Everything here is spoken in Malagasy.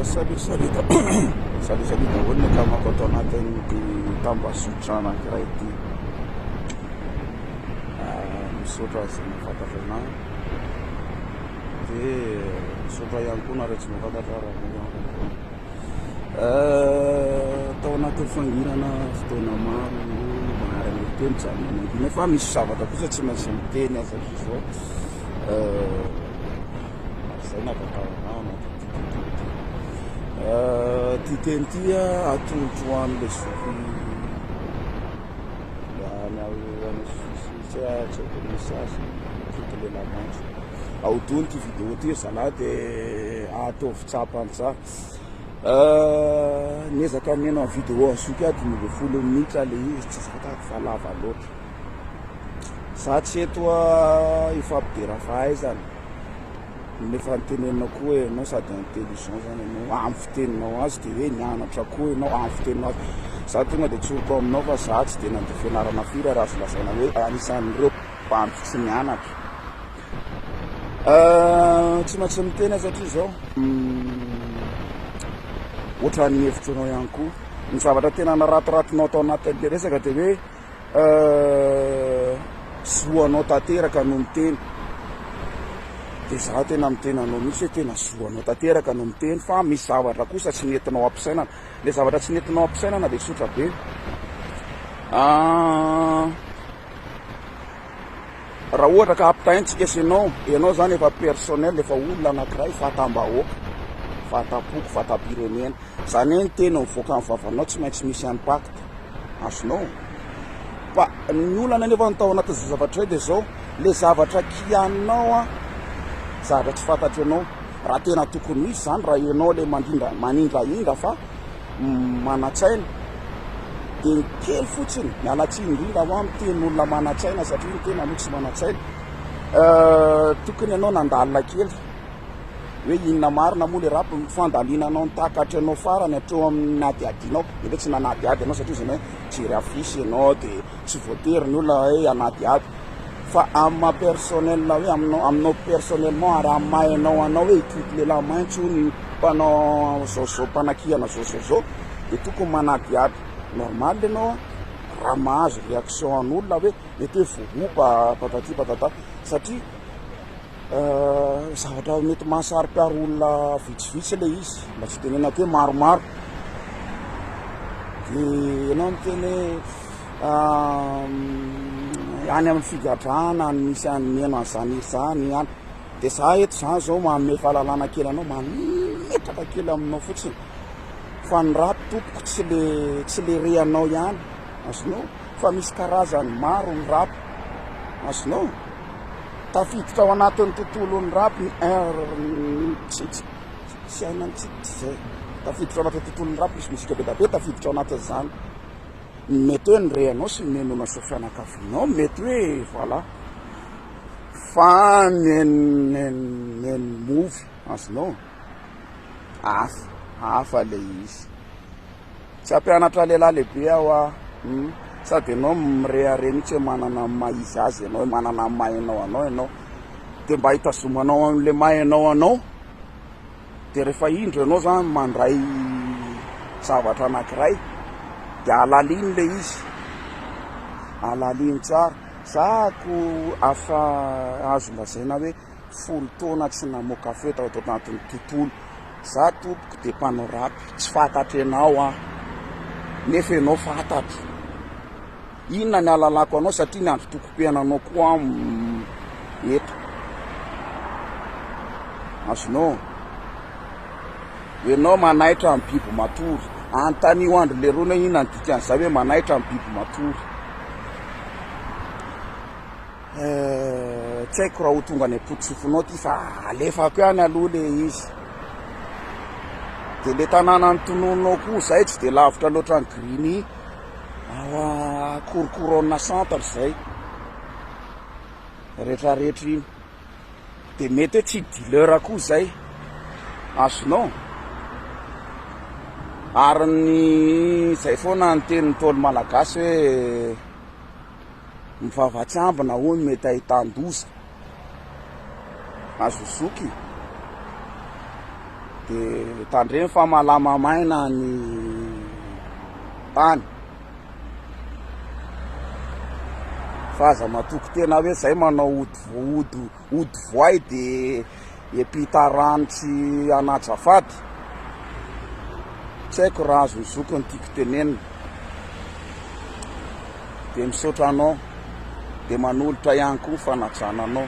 Salut, salut, salut, salut daholo ny akamako ato anatin'ity tambazotra anankiray ity. Misaotra azy ny fantatra anah. Dia misaotra ihany koa nareo tsy mahafantatra raha ihany koa. Tao anatin'ny fangirana fotoana maro maharana telo zany mangina fa misy zavatra kosa tsy maintsy miteny aza zao. Izay no ahafantarako ahy anatin'ity teny ity. Ity teny ity atolotro ho an'ilay zoky any any sosisosy tsy haiko ny sazy foty lehilahy maitso. Ahodino ity video ity ry zalahy dia ataovy tsapa an-tsaha. Niezaka miheno ny video an'ny zoky aho dimy ambin'ny folo minitra ilay izy tsy zakako fa lava loatra. Za tsy eto a hifampidera fahaizana nefa ny tenenina koa ianao sady intelligent zany ianao amin'ny fiteninao azy de hoe nianatra koa ianao amin'ny fiteninao azy za tonga de tsoriko aminao fa za tsy de nandeha fianarana firy ary azo lazaina hoe anisan'ireo bandy tsy nianatra tsy maintsy miteny satria zao ohatran'ny hevitranao ihany koa ny zavatra tena naratiratinao tao anatin'le resaka de hoe Euh zo anao tanteraka no miteny de za tena miteny anao mihitsy hoe tena zo anao tanteraka no miteny fa misy zavatra kosa tsy netinao ampisainana le zavatra tsy netinao ampisainana de tsotra be ah Raha ohatra ka ampitahaintsika sy ianao, ianao izany efa personnel, efa olona anankiray, fatam-bahoaka, fatam-poko, fatam-pirenena. Izany hoe ny teny mivoaka amin'ny vavanao tsy maintsy misy impact azonao. Fa ny olana nefa ny tao anatin'izao zavatra izao dia izao, ilay zavatra kianinao an, zavatra tsy fantatry ianao. Raha tena tokony hisy izany, raha ianao ilay mandrindra, manindrahindra fa. manan-tsaina dia ny kely fotsiny, miala tsiny indrindra hoa miteny olona manan-tsaina satria ny tena aloha tsy manan-tsaina. Tokony ianao nandalina kely hoe inona marina moa le rap fandalinanao ny takatry anao farany hatreo amin'ny adiadinao nefa tsy nanadiady ianao satria izy hoe mijery affiche ianao dia tsy voatery ny olona hoe hanadiady Fa amin'ny maha personnel hoe aminao aminao personnellement ary amin'ny maha hainao anao hoe hikidy lehilahy mainty hono io mpanao zao zao mpanakihana zao zao zao dia tokony manadihady normal ianao an raha mahazo réaction an'olona hoe mety hoe vohoba patati patata satria zavatra mety mahasarikaro olona vitsivitsy ilay izy mba tsy tenenako hoe maromaro dia ianao miteny hoe any amin'ny figadrana any misy any mihaino an'izany hira izany any dia za eto izany izao manome fahalalana kely anao mametraka kely aminao fotsiny fa ny rap tompoko tsy le tsy le rehanao ihany azonao fa misy karazany maro ny rap azonao tafiditra ao anatin'ny tontolon'ny rap ny tsy tsy tsy hainantsika tsy izay tafiditra ao anatin'ny tontolon'ny rap misy mozika be dia be tafiditra ao anatin'izany Mety hoe ny reanao sy ny nenonao sy ny fianakavianao mety hoe voilà fa ny nenimofy azonao hafa hafa le izy tsy ampianatra lehilahy lehibe aho ah hmm. sady ianao mireare mihitsy hoe manana maha izy azy ianao hoe manana maha ianao anao ianao dia mba hitazomanao an'le maha ianao anao Dia rehefa indro ianao izany mandray zavatra anankiray dia halalino ilay izy, halalino tsara. Za ko afa azo lazaina hoe folo taona tsy namoaka feo tao anatin'ny tontolo. Za tompoko dia mpanao rap, tsy fantatro ianao aho nefa ianao fantatro. Inona ny alalako anao satria ny andro tokom-piainanao koa eto. Azonao. Ianao manaitra ny biby matory. Anontanio andry lerony hoe inona ny dikan'izay hoe manaitra ny biby matory. Eh, tsy haiko raha ho tonga any am-potosofinao ty fa alefako ihany aloha le izy. Dia le tanàna ny tonononao koa izay tsy dia lavitra loatra ny Grigny. Ao Korokorona centre izay, retraretra iny. Dia mety hoe tsy dealer koa izay, azonao? Ary ny izay foana ny tenin'ny Ntaolo Malagasy hoe mivava tsy ambina hono mety ahitan-doza. azo zoky de tandremo fa malama maina ny tany fa aza matoky tena hoe zay manao ody ody ody voay de Epita Ranitry Anajafady, tsy haiko raha azon'ny zoky ny tiako tenenina, dia misaotra anao, dia manolotra ihany koa ny fanajana anao.